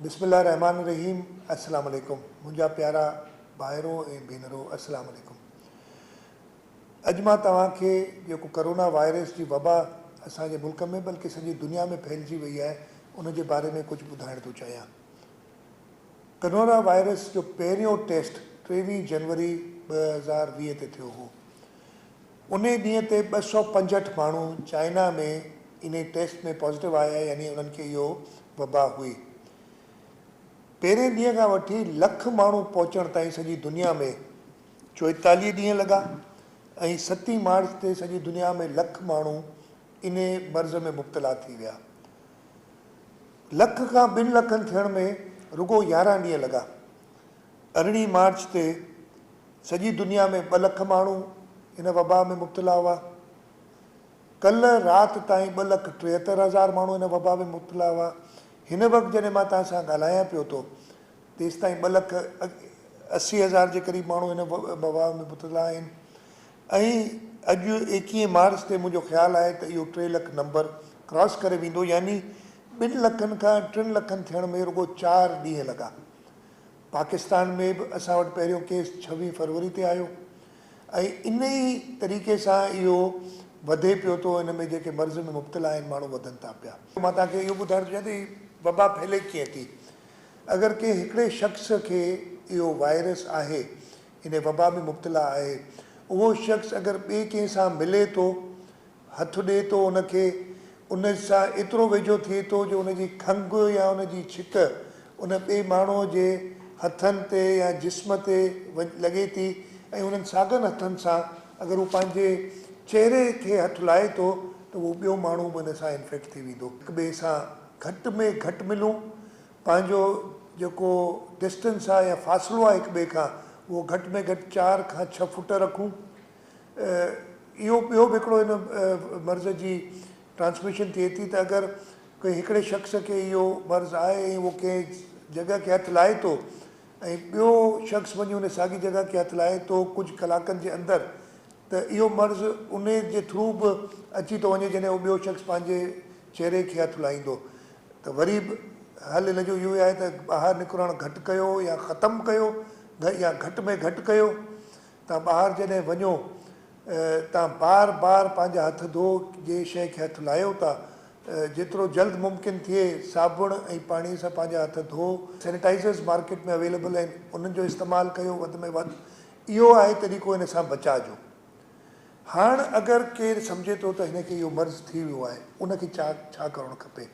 بسم الله الرحمٰن الرحيم السلام عليڪم منهنجا پيارا ڀائرو ۽ ڀينرو السلام عليڪم اڄ مان توهان کي جيڪو ڪرونا وائرس جي وبا اسان جي ملڪ ۾ بلڪه سڄي دنيا ۾ ڦهلجي وئي آهي ان جي باري ۾ ڪجهه ٻڌائڻ ٿو چاهيان ڪرونا وائرس جو پهريون ٽيسٽ ٽيويهه جنوري ٻه هزار ويهه تي ٿيو هو انهي ڏينهن تي ٻه سؤ پنجهٺ ماڻهو چائنا ۾ انهي ٽيسٽ ۾ پازيٽو آيا يعني انهن کي اهو وبا هئي. پهرين ڏينهن کان وٺي لک ماڻهو پهچڻ تائين سڄي دنيا ۾ چوئيتاليهه ڏينهن لڳا ۽ ستين مارچ تي سڄي دنيا ۾ لک ماڻهو انهي مرض ۾ مبتلا ٿي ويا. لک کان ٻن لکن ٿيڻ ۾ رڳو يارهن ڏينهن لڳا. ارڙهين مارچ تي سڄي دنيا ۾ ٻه لک ماڻهو هن وبا ۾ مبتلا هئا. ڪلهه رات تائين ٻه لک ٽيهتر هزار ماڻهو هن وبا ۾ مبتلا هئا. هن وقت جڏهن مان توهان سان ڳالهايان پيو ٿو تيستائين ٻه لک اسي هزار جي قريب ماڻهو هن وبا ۾ مبتلا آهن ۽ اڄ ايڪيهين مارچ تي منهنجو خيال آهي ته اهو ٽي لک نمبر ڪراس ڪري ويندو يعني ٻن لکن کان ٽن لکن ٿيڻ ۾ رڳو چار ڏينهن لڳا. پاڪستان ۾ به اسان وٽ پهريون ڪيس ڇويهه فروري تي آيو ۽ ان ئي طريقي سان اهو وڌي پيو ٿو ان ۾ جيڪي مرض ۾ مبتلا آهن ماڻهو وڌن ٿا پيا. مان توهان کي اهو ٻڌائڻ ٿو چاهيان ته هي وبا ڦهلي ڪيئن ٿي. اگر ڪنهن هڪڙي شخص کي اهو وائرس آهي ان وبا ۾ مبتلا آهي اهو شخص اگر ٻئي ڪنهن سان ملي ٿو هٿ ڏئي ٿو ان کي، ان سان ايترو ويجهو ٿئي ٿو جو ان جي کنگهه يا ان جي ڇڪ ان ٻئي ماڻهوء جي هٿن تي يا جسم تي لڳي ٿي ۽ انهن ساڳن هٿن سان اگر هو پنهنجي چهري کي هٿ لائي ٿو ته اهو ٻيو ماڻهو به ان سان انفيڪٽ ٿي ويندو. هڪ ٻئي سان گهٽ ۾ گهٽ ملون، پنهنجو جيڪو ڊسٽنس آهي يا فاصلو آهي هڪ ٻئي کان اهو گهٽ ۾ گهٽ چار کان ڇهه فوٽ رکون. اهو ٻيو به هڪڙو هن مرض جي ٽرانسميشن ٿئي ٿي ته اگر ڪنهن هڪڙي شخص کي اهو مرض آهي ۽ اهو ڪنهن جڳهه کي هٿ لائي ٿو ۽ ٻيو شخص وڃي ان ساڳي جڳهه کي هٿ لائي ٿو ڪجهه ڪلاڪن جي اندر ته اهو مرض ان جي ٿرو به اچي ٿو وڃي جڏهن اهو ٻيو شخص پنهنجي چهري کي هٿ لائيندو ته وري به حل ان جو اهو ئي آهي ته ٻاهر نڪرڻ گهٽ ڪيو يا ختم ڪيو يا گهٽ ۾ گهٽ ڪيو توهان ٻاهر جڏهن وڃو توهان بار بار پنهنجا هٿ ڌو جنهن شيء کي هٿ لاهيو ٿا جيترو جلد ممڪن ٿئي صابڻ ۽ پاڻي سان پنهنجا هٿ ڌو. سينيٽائيزرز مارڪيٽ ۾ اويليبل آهن انهن جو استعمال ڪيو وڌ ۾ وڌ اهو آهي طريقو ان سان بچاء جو. هاڻ اگر ڪير سمجهي ٿو ته هن کي اهو مرض ٿي ويو آهي ان کي ڇا ڪرڻ کپي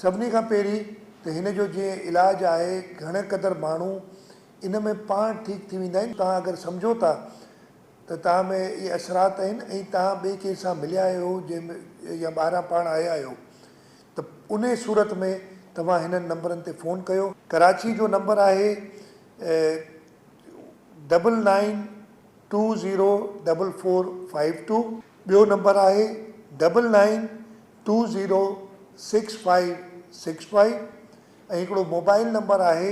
سڀني کان پهرين ته هن جو جنهن علاج آهي گهڻي قدر ماڻهو ان ۾ پاڻ ٺيڪ ٿي ويندا آهن. توهان اگر سمجهو ٿا ته توهان ۾ اهي اثرات آهن ۽ توهان ٻئي ڪنهن سان مليا آهيو يا ٻاهران پاڻ آيا آهيو ته انهي صورت ۾ توهان هنن نمبرن تي فون ڪيو. ڪراچي جو نمبر آهي double nine two zero double four five two. ٻيو نمبر آهي double nine two zero six five six five ۽ هڪڙو موبائل نمبر آهي